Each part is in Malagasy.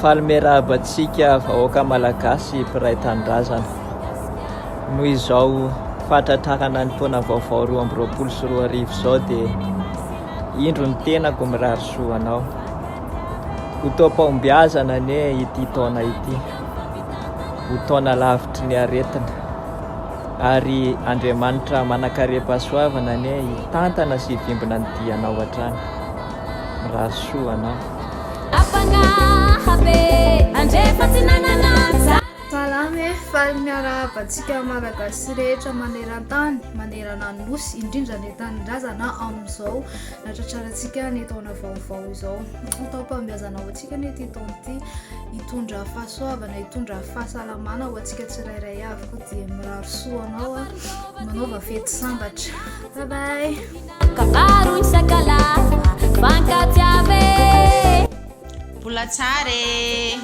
Faly miarahaba antsika vahoaka Malagasy mpiray tanindrazana. Noho izao fahatratrarana ny taona vaovao roa amby roapolo sy roa arivo izao dia indro ny tenako mirary soa anao. Ho toam-pahombiazana anie ity taona ity. Ho taona lavitry ny aretina. Ary Andriamanitra manankarem-pahasoavana anie hitantana sy hivimbina ny dianao hatrany. Mirary soa anao. Ampanahy be andrefa tsy nanana zara. Salama e! Faly miarahaba antsika Malagasy rehetra maneran-tany, manerana ny Nosy, indrindra ny tanindrazana amin'izao nahatratrarantsika ny taona vaovao izao. Ny taom-pahombiazana ho antsika. Isika anie ity taona ity hitondra fahasoavana, hitondra fahasalamana ho antsika tsirairay avy koa dia mirary soa anao a, manaova fety sambatra. Bye bye. Kabaro isakalaza fankatiave. Mbola tsara e!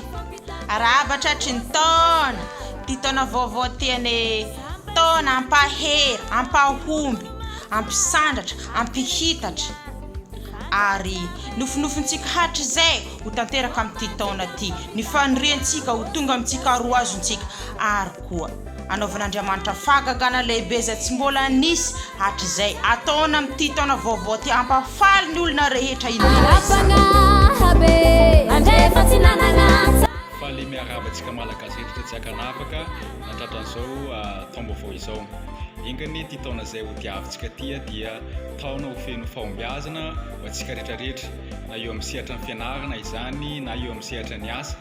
Arahaba tratry ny taona, ity taona vaovao ity anie taona ampahery, ampahomby, ampisandratra, ampihitatra. ary nofinofintsika hatrizay ho tanteraka amin'ity taona ity ny faniriantsika ho tonga amintsika ary ho azontsika ary koa anaovan'Andriamanitra fahagagana lehibe izay tsy mbola nisy hatrizay ataony amin'ity taona vaovao ity hampafaly ny olona rehetra indrindra izany Faly miarahaba antsika Malagasy rehetra tsy ankanavaka natratran'izao ah, taom-baovao izao. Enga anie ity taona izay hodiavintsika ity ah, dia taona ho feno fahombiazana ho antsika rehetra rehetra na eo amin'ny sehatra ny fianarana izany na eo amin'ny sehatra ny asa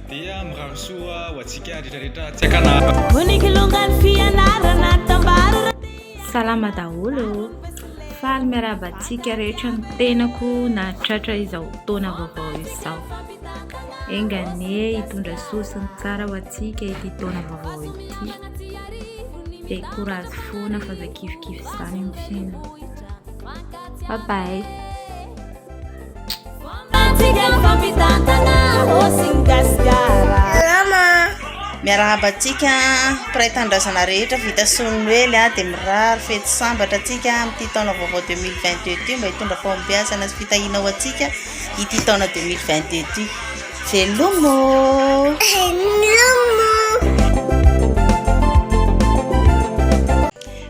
dia mirary soa ho antsika rehetra rehetra tsy akanara Vonikilongan'ny fianarana tambaro Salama daholo ô! Faly miarahaba antsika rehetra ny tenako nahatratra izao taona vaovao izao. Enga anie hitondra soa sy ny tsara ho antsika ity taona vaovao ity. Dia courage foana fa zay kifikify zany ny fiainana. Bye bye. Salama! Miarahaba antsika mpiray tanindrazana rehetra vita sony noely a dia mirary fety sambatra antsika amin'ity taona vaovao 2022 ity mba hitondra fahombiazana sy fitahiana ho antsika ity taona 2022 ity. Velomo! Velomo!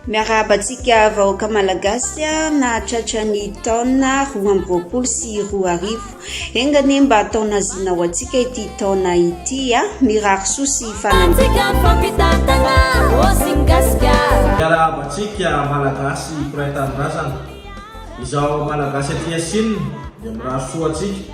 Miarahaba antsika vahoaka malagasy nahatratra ny taona roa amby roapolo sy roa arivo. Enga anie mba taona zina ho antsika ity taona ity a! Mirary soa sy fanantenana. Miarahaba antsika malagasy mpiray tanindrazana. Izaho malagasy aty Chine dia mirary soa antsika.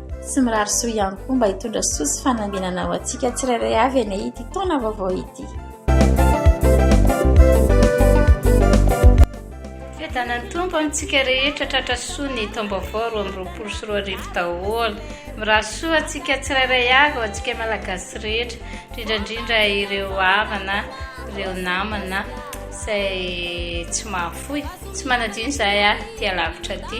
Tsy mirary soa ihany koa mba hitondra soa sy fanambinana ho antsika tsirairay avy anie ity taona vaovao ity. Fiadanan'ny Tompo amintsika rehetra tratra soa ny taom-baovao roa amby roapolo sy roa arivo daholo. Mirary soa antsika tsirairay avy ho antsika malagasy rehetra, indrindra indrindra ireo havana, ireo namana izay tsy mahafoy, tsy manadino izahay aty alavitra aty.